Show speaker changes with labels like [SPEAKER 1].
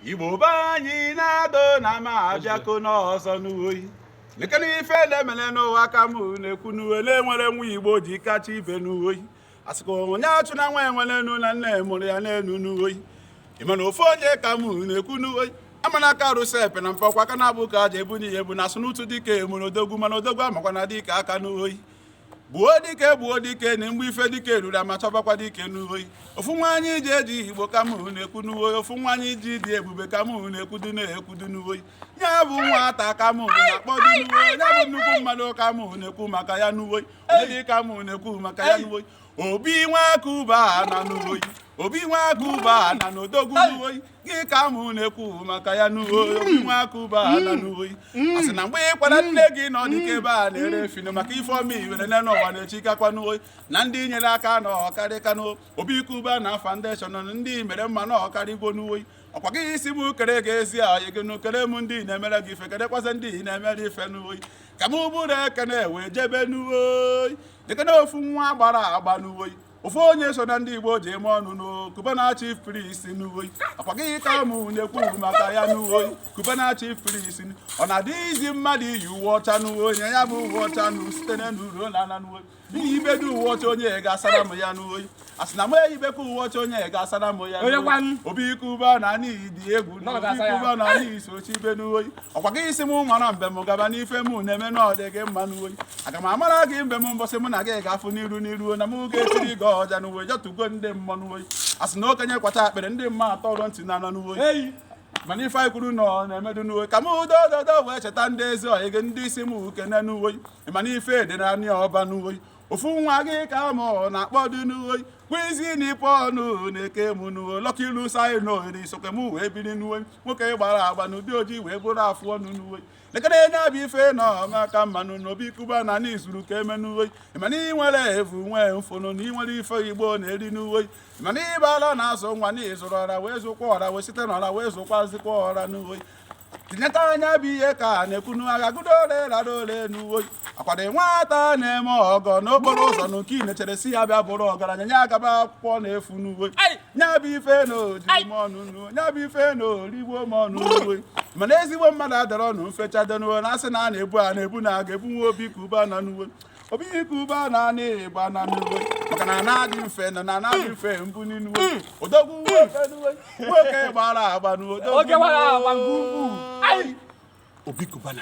[SPEAKER 1] igbo be anyị nọdụ nụ mma abịakwa m ọzọ n'oyi lekene ife na-emere n'ụwa ka m na-ekwu n'oyi na e nwere nwa igbo ji kacha ibe n'oyi a sịkwa onye achụna nwa enwe enu na nne mụrụ ya n'elu n'oyi ị mana ofu onye ka m na-ekwu n'oyi a mana ka arụsị epena mpe ọkwa aka naabọ ka e ji ebu n'ihe bụ na a sị n'ụtụ dike mụrụ odogwu mana odogwu amakwana dike aka n'oyi gbuo dike gbuo dike na mgbe ife dike ruru a ma-achọbakwa dike n'uhoyi ofu nwa anyị ji eji igbo ka mụ na-ekwu n'uhoyi ofu nwa anyị ji dị ebube ka mụ na-ekwu dị na-ekwu dị n'uhoyi ya bụ nwata ka mụ na-akpọ dị n'uhoyi ya bụ nnukwu mmadụ ka mụ na-ekwu maka ya n'uhoyi onye dị ka mụ na-ekwu maka ya n'uhoyi obi nwa cubana n'oyi obi nwa cubana n'odogwu n'oyi gị ka mụ na-ekwu maka ya n'oyi obi nwa cubana n'oyi a sị na mgbe ị kwara nne gị n'ọ dịka ebe a na-ere efi n'oyi maka ife ọma iwere nne n'ụwa na echi kakwa n'oyi na ndị i nyere aka na ọ karịka n'obi cubana foundation ndị i mere mma na ọ karịgo n'oyi ọkwa gị sị m kere gị ezi enyi gị nụ kere m ndị na-emere gị ife kerekwasị ndị ị na-emere ife n'oyi ka m buru ekene wee jebe n'uweoyi nekene ofu nwa gbara agba n'uweoyi ofu onye so na ndị igbo ji eme ọnụ na cubana chief priest n'uweoyi ọkwa gị ka mụ na-ekwu maka ya n'uweoyi cubana chief priest ọ na-adị izi mmadụ iyi uwe ọcha n'uweoyi ya bụ uwe ọcha n'u site n'elu ruo na ala n'uweoyi na m yibedo uwe ọcha onye ya ga-asara m ya n'oyi a sị na m eyibekwa uwe ọcha onye ya ga-asara m ya n'oyi obi cubana n'ị dị egwu na obi cubana n'ihi sochi ibe n'oyi ọkwa gị sị m mara mbem gaba n'ife m na-eme na ọ dị gị mma n'oyi aga m amara gị mbem mbọsị mụ na gị ga-afụ n'iru n'iru na m ga-etiri gị ọja n'uwe jọtugo ndị mma n'oyi a sị na okenye kwacha akpịrị ndị mmụọ atọrọ ntị n'ana n'oyi mana ife anyị kwuru n'ọ na-emedu n'uwe ka m udo ododo wee cheta ndị ezi ọyị gị ndị isi m uke n'uwe ị mana ife dị n'anị ọba n'oyi ofu nwa gị ka mụ na-akpọ dị n'oyi kwizi na ipe ọnụ na-eke m n'uwe lọka ilu saị na ohere isoke m wee biri n'uwe nwoke gbara agba n'ụdị ojii wee buru afụ ọnụ n'uwe lekene na ya bụ ife na ọ maka mma nụ na obi cubana anyị zuru ka eme n'uwe ị mana ị nwere evu nwee mfụnụ na ị nwere ife igbo na-eri n'uwe ịmana ịbala na-azụ nwa na ị zụrụ ọra wee zụkwa ọra wee site n'ọra wee zụkwazikwa ọra n'uwe tineta anya bụ ihe ka a na-ekwunu a ga-agụdo ole rara ole n'uwe akwado nwata na-eme ọgọ n'okporo ụzọ na nke inechere sị ya bịa bụrụ ọgaranya nye agaba akwụkwọ n'efu n'uwe nya bụ ife na o riri m ọnụ n'uwe nya bụ ife na o rigbo m ọnụ n'uwe mana ezigbo mmadụ adọrọ ọnụ mfecha dọnuwe na a sị na a na-ebu a na-ebu na a ga-ebunwe obi cubana n'uwe obi cubana n'anị ọba na n'uwe maka na na-adị mfe nọ na na-adị mfe mbụ n'inuwe odogwu nwoke nuwe nwoke gbara agba nu odogwu nwoke gbara agba nke ukwuu. Ai! obi cubana